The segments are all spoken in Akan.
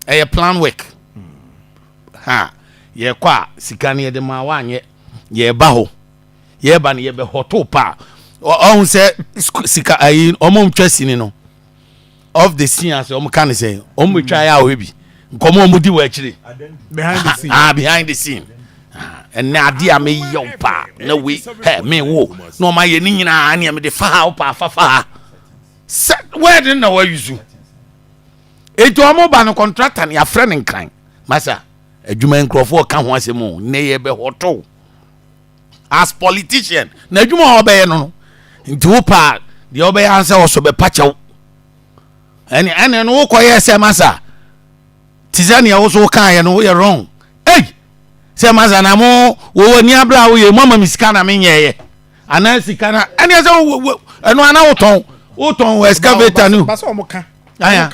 ɛyɛ plan work ha yɛkɔ a sika no yɛde maa wanyɛ yɛba hɔ yɛba no yɛbɛhɔ to pa ɔhu sɛ sika ayi ɔmo ntwa sini no of the scene ase ɔmo ka ne sɛ ɔmo bɛtwa ayɛ a ɔhɛ bi nkɔmɔ ɔmo di wɔ akyiri ah behind the scene ɛnɛ ah, ade a meyɛ wo paa na wei hɛ me wo na ɔma yɛ ne nyinaa nea mede fa ha wo paa fa fa ha sɛ wɛde na wayusu Enti wɔn ba no kɔntrata no yɛafrɛ no nkran. Masa, adwuma nkurɔfoɔ ka ho asɛm o, nnɛ yɛbɛhɔtɔw. As politician, na adwuma a wɔbɛyɛ no no, nti wo paa deɛ wɔbɛyɛ ansa wɔsɔ bɛpa kyɛw. Ɛne ɛne no wokɔyɛ sɛ masa, te sɛ neɛ wo so wokaeɛ no woyɛ wrong. Ei, sɛ masa na mo wɔwɔ ni abere a woyɛ mo ama me sika na menyɛeɛ. anaa sika na ɛni ɛsɛ wo wo ɛnu ana wo tɔn wo tɔn wɔ excavator ni o. basa ɔmo ka. aya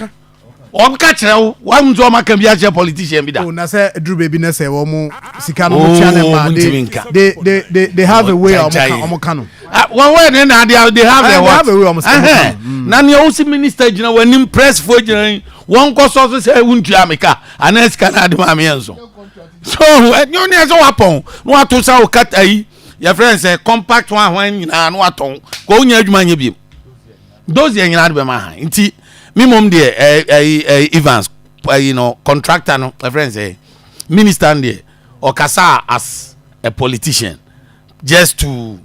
ɔmo ka kyerɛ wo wa mu sɛ ɔmo aka bi akyerɛ politician bi da. o oh, na sɛ eduru beebi na sɛ wɔn sika no mo tia ne ma de de de de have a way ɔmo ka ɔmo ka no. wɔn wɔn ne na de de have a what. Mm. na nea ɔsi minister gyina wɔn anim press fo gyina yi wɔn kɔ sɔ so sɛ ewu ntua mi ka anaa sika na adi maa mi yɛn so so ɛnyɛ ɔne ɛsɛ wapɔn na wato sa ɔkata yi. yɛfrɛ no sɛ compact ho ahoa nyinaa na watɔn kɔ wonya adwuma nyɛ biom those deɛ nyinaa de bɛma ha nti me mmom deɛ ɛyi eh, ɛyi eh, eh, evans ɛyi no contractor no ɛfrɛ no sɛ minister no deɛ ɔkasa as a politician just to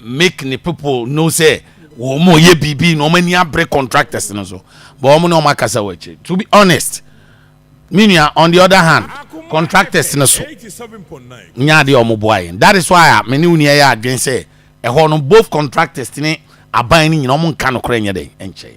make the people know say wɔn mo yɛ biribi na wɔn ani abere contractors no so but wɔn na wɔn akasa wɔ akyire to be honest Me nua, on the other hand, contractors no so nya adeɛ a wɔboa yɛn. That is why a me ne wo nua yɛ adwene sɛ ɛhɔ no both contractors ne aban no nyina wɔn nka nokorɛ nyɛ dɛn nkyɛn.